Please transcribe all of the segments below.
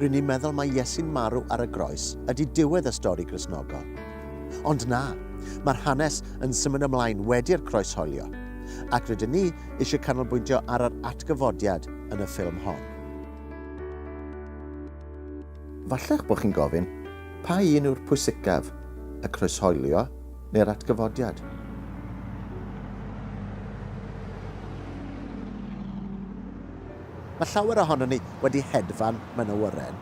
Rŷn ni'n meddwl mai Iesu'n marw ar y groes ydy diwedd y stori Gristnogol. Ond na, mae'r hanes yn symud ymlaen wedi'r croes holio, ac rydyn ni eisiau canolbwyntio ar yr atgyfodiad yn y ffilm hon. Falle'ch bod chi'n gofyn, pa un yw'r pwysicaf, y croeshoelio neu'r atgyfodiad? Mae llawer ohonon ni wedi hedfan mewn awyren,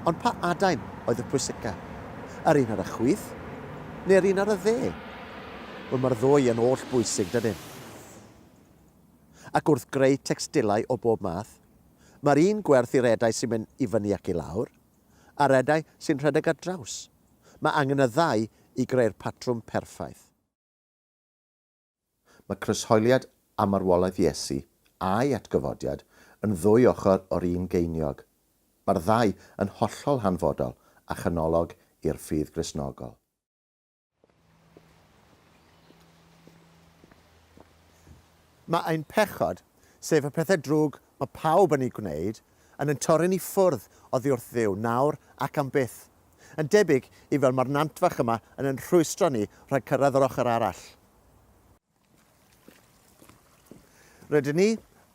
ond pa adain oedd y pwysica? Yr un ar y chwith, neu'r un ar y dde? Wel, mae'r ddwy yn oll bwysig, dydyn? Ac wrth greu tecstilau o bob math, mae'r un gwerth i'r edau sy'n mynd i fyny ac i lawr, a'r edau sy'n rhedeg ar draws. Mae angen y ddau i greu'r patrwm perffaith. Mae croeshoeliad a marwolaeth Iesu, a'i atgyfodiad, yn ddwy ochr o'r un geiniog. Mae'r ddau yn hollol hanfodol a chanolog i'r ffydd Gristnogol. Mae ein pechod, sef y pethau drwg mae pawb yn eu gwneud, yn ein torri'n i ffwrdd oddi wrth Dduw, nawr ac am byth, Yn debyg i fel mae'r nant fach yma yn yn rhwystro ni rhag cyrraedd yr ochr arall. Rydyn ni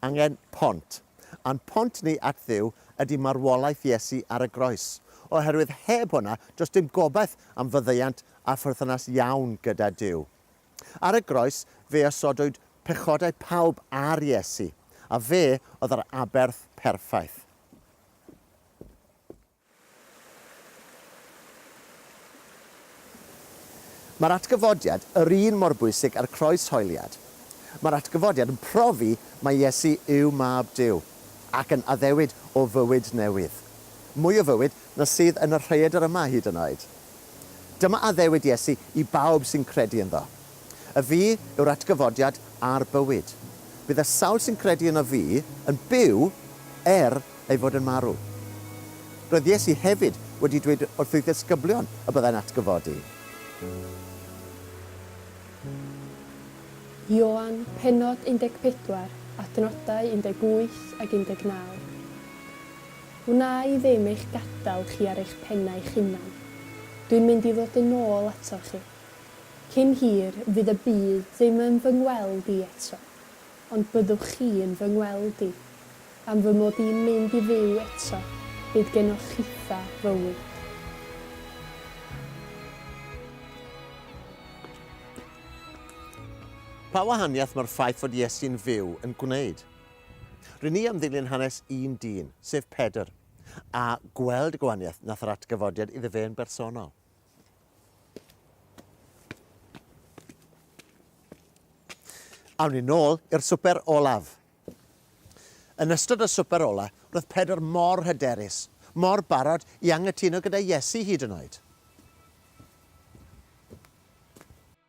angen pont. A'n pont ni at Dduw ydy marwolaeth Iesu ar y groes, oherwydd heb hwnna does dim gobaith am faddeuant a pherthynas iawn gyda Duw. Ar y groes fe osodwyd pechodau pawb ar Iesu, a fe oedd yr aberth perffaith. Mae'r atgyfodiad yr un mor bwysig â'r croeshoeliad. Mae'r atgyfodiad yn profi mai Iesu yw Mab Duw, ac yn addewid o fywyd newydd. Mwy o fywyd na sydd yn y rhaeadr yma hyd yn oed. Dyma addewid Iesu i bawb sy'n credu ynddo. Y fi yw'r atgyfodiad a'r bywyd. Bydd y sawl sy'n credu yno fi yn byw er ei fod yn marw. Roedd Iesu hefyd wedi dweud wrth'i ddisgyblion y byddai'n atgyfodi. Ioan, pennod 14, adnodau 18 ag 19. Wna i ddim eich gadael chi ar eich pennau'ch hunan. Dwi'n mynd i ddod yn ôl atoch chi. Cyn hir, fydd y byd ddim yn fy ngweld i eto, ond byddwch chi yn fy ngweld i. Am fy mod i'n mynd i fyw eto, bydd genoch chitha fywyd. Pa wahaniaeth mae'r ffaith fod Iesu'n fyw yn gwneud? Rŷn ni am ddilyn hanes un dyn, sef Pedr, a gweld y gwahaniaeth nath yr atgyfodiad iddo fe yn bersonol. Awn ni nôl i'r swper olaf. Yn ystod y swper ola, roedd Pedr mor hyderus, mor barod i angytuno gyda Iesu hyd yn oed.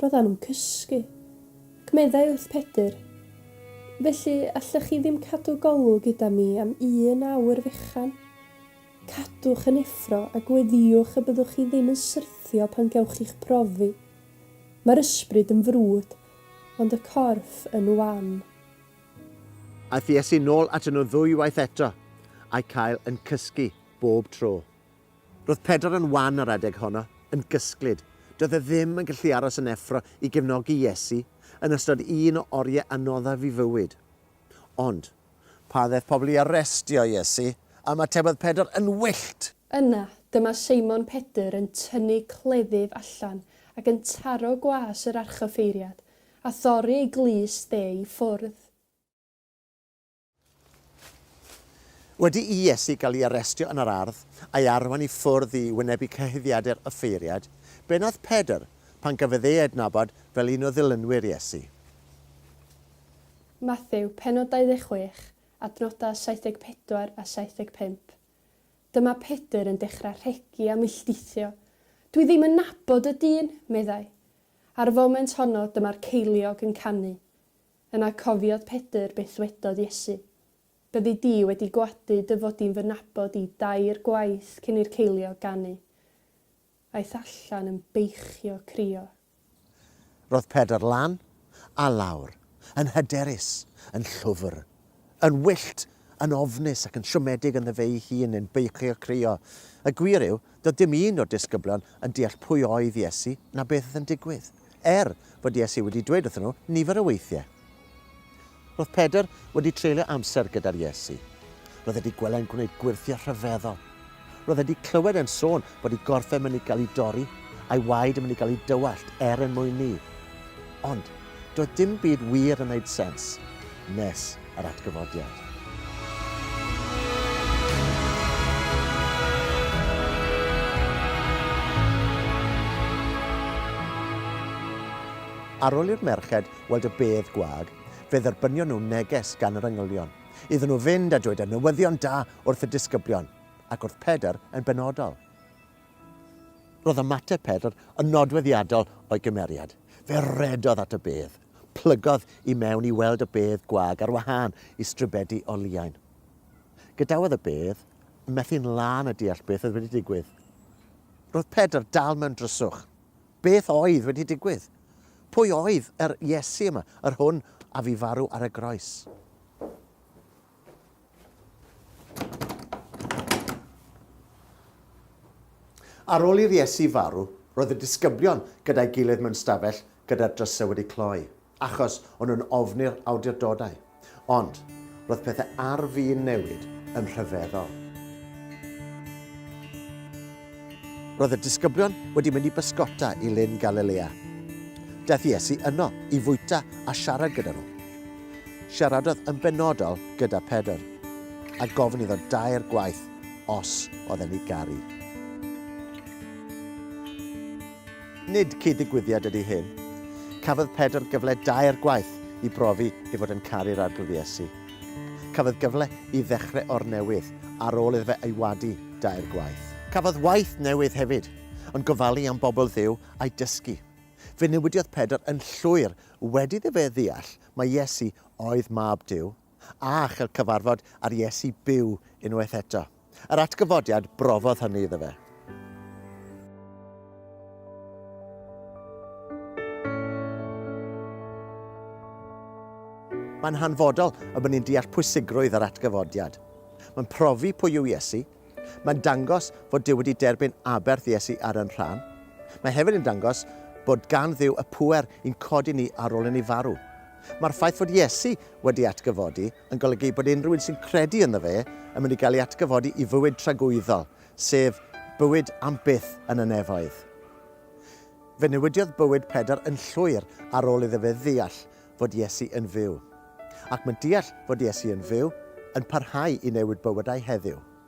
Roeddan nhw'n cysgu. Ac meddai wrth Pedr, Felly, allech chi ddim cadw golwg gyda mi am un awr fechan? Cadwch yn effro a gweddïwch y byddwch chi ddim yn syrthio pan gewch chi'ch profi. Mae'r ysbryd yn frwd, ond y corff yn wan. Aeth Iesu nôl atyn nhw ddwy waith eto, a'u cael yn cysgu bob tro. Roedd Pedr yn wan ar adeg honno, yn gysglyd. Doedd e ddim yn gallu aros yn effro i gefnogi Iesu yn ystod un o oriau anoddaf ei fywyd. Ond. Pan ddaeth pobl i arestio Iesu, ymatebodd Pedr yn wyllt! Yna, dyma Seimon Pedr yn tynnu cleddyf allan ac yn taro gwas yr archoffeiriad, a thorri ei glust e i ffwrdd. Wedi i Iesu gael ei arestio yn yr ardd, a'i arwain i ffwrdd i wynebu cyhuddiadau'r offeiriaid, be wnaeth Pedr pan gafodd ei adnabod fel un o ddilynwyr Iesu? Mathew, pennod 26, adnodau 74 a 75. Dyma Pedr yn dechrau rhegi a milltithio. Dwi ddim yn nabod y dyn, meddai. Ar y foment honno, dyma'r ceiliog yn canu. Yna cofiodd Pedr beth ddwedodd Iesu, Byddi di wedi gwadu dy fod di'n fy nabod i dair gwaith cyn i'r ceiliog ganu. Aeth allan yn beichio crio. Roedd Pedr lan a lawr, yn hyderus, yn llwfr, Yn wyllt, yn ofnus ac yn siomedig ynddo fe'i hun yn beichio crio. Y gwir yw, doedd dim un o'r disgyblion yn deall pwy oedd Iesu na beth oedd yn digwydd, er fod Iesu wedi dweud wrthyn nhw nifer o weithiau. Roedd Pedr wedi treulio amser gyda'r Iesu. Roedd e wedi gweled e'n gwneud gwyrthiau rhyfeddol. Roedd e 'di clywed e'n sôn bod 'i gorff e'n mynd i gael 'i dorri, a'i waed yn mynd i gael 'i dywallt er en mwyn 'i. Ond, doedd dim byd wir yn 'neud sens, nes yr atgyfodiad. Ar ol i'r merched weld y bedd gwag, fe dderbynion nhw neges gan yr engylion, iddyn nhw fynd a dweud y newyddion da wrth y disgyblion ac wrth Pedr yn benodol. Roedd ymateb Pedr yn nodweddiadol o'i gymeriad. Fe redodd at y bedd, plygodd i mewn i weld y bedd gwag ar wahân i stribedi o liain. Gadawodd y bedd yn methu'n lân a deall beth oedd wedi digwydd. Roedd Pedr dal mewn dryswch. Beth oedd wedi digwydd? Pwy oedd yr Iesu yma, yr hwn a fi farw ar y groes? Ar ôl i'r Iesu farw, roedd y disgyblion gyda'i gilydd mewn stafell gyda'r drysau wedi cloi, achos o'n nhw'n ofni'r awdurdodau. Ond, roedd pethau ar fin newid yn rhyfeddol. Roedd y disgyblion wedi mynd i bysgota i Lyn Galilea. Daeth Iesu yno i fwyta a siarad gyda nhw. Siaradodd yn benodol gyda Pedr, a gofyn iddo dair gwaith os oedd e'n ei garu. Nid cyd-ddigwyddiad ydy hyn. Cafodd Pedr gyfle dair gwaith i brofi ei fod yn caru'r Arglwydd Iesu. Cafodd gyfle i ddechrau o'r newydd ar ôl iddo fe ei wadu dair gwaith. Cafodd waith newydd hefyd, yn gofalu am bobl Dduw a'u dysgu. Fe newidiodd Pedr yn llwyr wedi iddo fe ddeall mai Iesu oedd Mab Duw, a chael cyfarfod â'r Iesu byw unwaith eto. Yr atgyfodiad brofodd hynny iddo fe. Mae'n hanfodol y bod ni'n deall pwysigrwydd yr atgyfodiad. Mae'n profi pwy yw Iesu. Mae'n dangos fod Dyw wedi derbyn aberth Iesu ar yn rhan. Mae hefyd yn dangos bod gan Dduw y pŵer i'n codi ni ar ôl i ni farw. Mae'r ffaith fod Iesu wedi atgyfodi yn golygu bod unrhyw un sy'n credu ynddo fe yn mynd i gael ei atgyfodi i fywyd tragwyddol, sef bywyd am byth yn y nefoedd. Fe newidiodd bywyd Pedr yn llwyr ar ôl iddo fe ddeall fod Iesu yn fyw. Ac mae deall fod Iesu yn fyw yn parhau i newid bywydau heddiw.